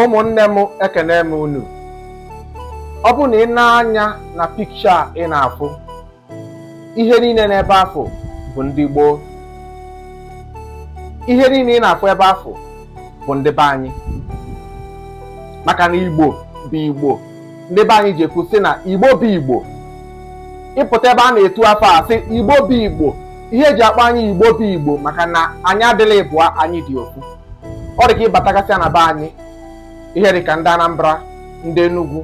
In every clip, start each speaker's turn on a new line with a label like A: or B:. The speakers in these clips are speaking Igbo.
A: ụmụnne m ekene m unu ọ bụ na ị nee anya na pikcha a ị na-afụ ihe niile n'ebe afụ bụ ndị igbo ihe niile ị na-afụ ebe afụ bụ ndị be anyị maka na igbo bụ igbo ndị be anyị ji ekwu sị na igbo bụ igbo ịpụta ebe a na-etu afa a sị igbo bụ igbo ihe eji akpọ anyị igbo bụ igbo maka na anyị adịrọ ịbụa anyị dị ofu ọ dị ka ịbatagasịa na be anyị ihe dị ka ndị Anambra ndị Enugu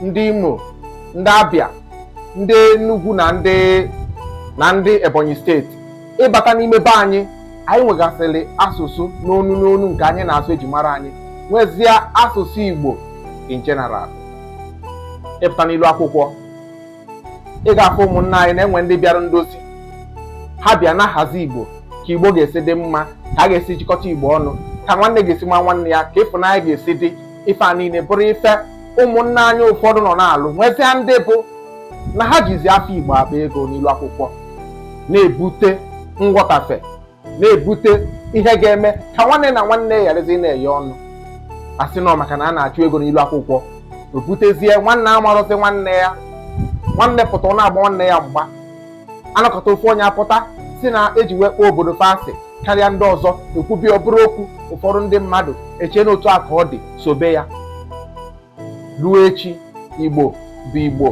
A: ndị Imo ndị Abia ndị Enugu na ndị na ndị Ebonyi steeti ịbata n'ime be anyị anyị nwegasịrị asụsụ n'onu n'onu nke anyị na-asụ eji mara anyị nwezie asụsụ Igbo in general ịpụta n'ilu akwụkwọ ị ga-afụ ụmụnna anyị na-enwe ndị bịara ndozi ha bịa na-ahazi igbo ka igbo ga-esi dị mma ka a ga-esi jikọta igbo ọnụ ka nwanne ga-esi ma nwanne ya ka ịfụnanya ga-esi dị ife a niile bụrụ ife ụmụnna anyị ụfọdụ nọ na-alụ nwezia ndị bụ na ha jizi afa igbo akpa ego n'ilu akwụkwọ na-ebute nghọtafe na-ebute ihe ga-eme ka nwanne na nwanne gharazi ịna-eyi ọnụ a sị no maka na a na-achụ ego n'ilu akwụkwọ o butezie nwanne amarọzi nwanne ya nwanne pụta ọ na-agba nwanne ya mgba anọkọta ofu onye apụta sị na eji wee kpọọ obodo fa asị karịa ndị ọzọ ekwubi ọ bụrụ okwu ụfọdụ ndị mmadụ echee na otu a ka ọ dị sobe ya ruo echi igbo bụ igbo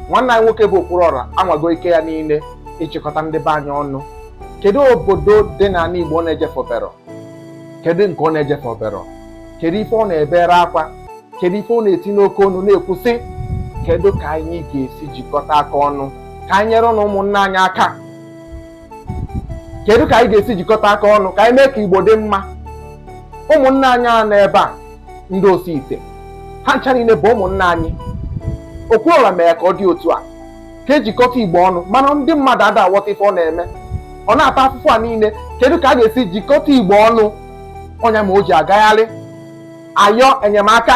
A: nwanne anyị nwoke bụ Okwuluọra anwago ike ya niile ịchịkọta ndị be anyị ọnụ kedu obodo dị n'ana igbo ọ na-ejefubero kedu nke ọ na-ejefubero kedu ife ọ na-ebere akwa kedu ife ọ na-eti n'oke onu na-ekwu sị kedu ka anyị ga-esi jikọta aka ọnụ ka anyị nyere ụmụnna anyị aka kedu ka anyị ga-esi jikọta aka ọnụ ka anyị mee ka igbo dị mma ụmụnna anyị a nọ ebe a ndị osi ite ha ncha niile bụ ụmụnna anyị Okwuluọra mere ka ọ dị otu a ka ejikọta igbo ọnụ mana ndị mmadụ ada aghọta ife ọ na-eme ọ na-ata afụfụ a niile kedu ka a ga-esi jikọta igbo ọnụ ọ nya mere o ji agagharị ayọ enyemaka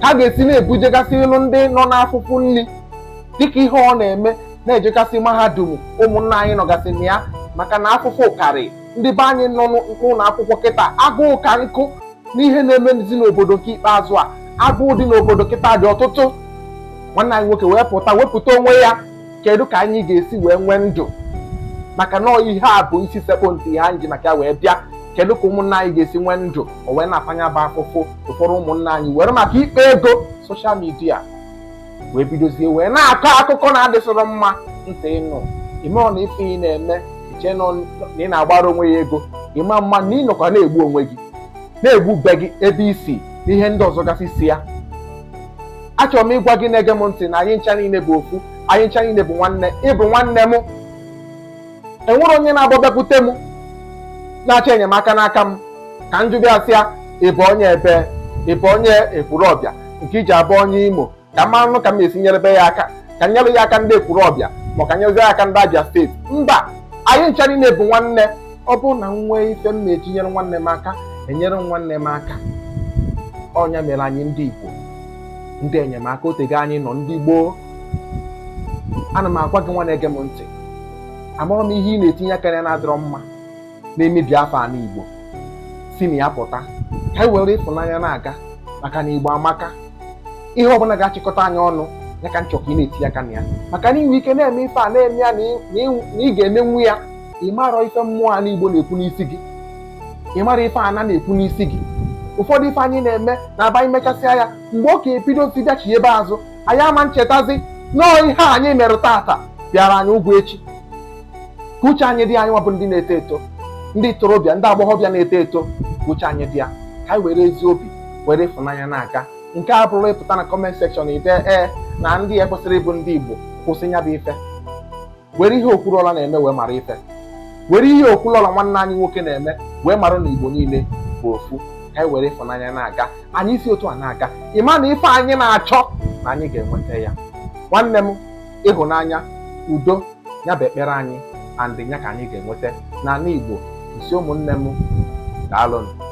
A: ka a ga-esi na-ebujegasịlụ ndị nọ n'afụfụ nri dịka ihe ọ na-eme na-ejegasị mahadum ụmụnna anyị nọgasị na ya maka na afụfụ karị ndị be anyị nọ n'ụlọ akwụkwọ kịta agụụ ka nkụ n'ihe na-emezi n'obodo nke ikpeazụ a agụụ dị n'obodo kịta dị ọtụtụ nwanne anyị nwoke wee pụta wepụta onwe ya kedu ka anyị ga-esi wee nwee ndụ maka na ihe a bụ isi sekpụ ntị ihe anyị ji maka ya wee bịa kedu ka ụmụnna anyị ga-esi nwee ndụ o wee na-afanye bụ afụfụ ụfọdụ ụmụnna anyị were maka ịkpa ego social media wee bidozie wee na-akọ akụkọ na-adịsịrọ mma ntị ịnụ ị marọ na ife ị na-eme i che na ị na-akpara onwe gị ego ị ma ma na ị nọkwa na-egbu onwe gị na-egbu be gị ebe i si na ihe ndị ọzọ gasị si ya achọrọ m ịgwa gị na-ege m ntị na anyị ncha niile bụ ofu anyị ncha niile bụ nwanne ị bụ nwanne m enwere onye na-abụ ọ bịakwute m na-achọ enyemaka n'aka m ka m jụba ya sị ya ị bụ onye ebe ị bụ onye Ekwulọbịa nke i ji abụ onye Imo ka m manụ ka m esi nyerebe ya aka ka m nyere ya aka ndị Ekwulọbịa ma ka nyezi aka ndị Abia steeti mba anyị ncha niile bụ nwanne ọ bụrụ na m nwee ife m na-eji nyere nwanne m aka enyere nwanne m aka ọ nya mere anyị ndị Igbo ndị enyemaka o tego anyị nọ ndị gboo ana m agwa gị nwa na-ege m ntị amarọ m ihe ị na-etinye aka na ya na-adịrọ mma na-emebi afa ana Igbo si na ya pụta ka anyị were ịfụnanya na-aga maka na Igbo amaka ihe ọbụla ga-achịkọta anyị ọnụ ya ka m chọ ka ị na-etinye aka na ya maka na i nwe ike na-eme ife a na-eme ya na ị ga-emenwu ya ị marọ ife mmụọ ana Igbo na-ekwu n'isi gị ị mara ife ana na-ekwu n'isi gị ụfọdụ ife anyị na-eme na-abụ anyị mechasịa ya mgbe ọ ga-ebidozi bịachi ebe azụ anyị ama na-echetazi na ọ ihe anyị mere tata bịara anyị ụgwọ echi ka uche anyị dị ya anyị nwa bụ ndị na-eto eto ndị ntorobịa ndị agbọghọbịa na-eto eto ka uche anyị dị ya ka anyị were ezi obi were ịfụnanya na-aga nke a bụrụ ị pụta na comment section i dee na ndị a kwesịrọ ịbụ ndị Igbo kwụsị ya bụ ife were ihe Okwuluọra na-eme wee mara ife were ihe Okwuluọra nwanne anyị nwoke na-eme wee mara na igbo niile bụ ofu ka anyị were ịfụnanya na-aga anyị si otu a na-aga ị ma na ife anyị na-achọ na anyị ga-enweta ya nwanne m ịhụnanya udo ya bụ ekpere anyị and ya ka anyị ga-enweta n'ana igbo m sị ụmụnne m daalụnụ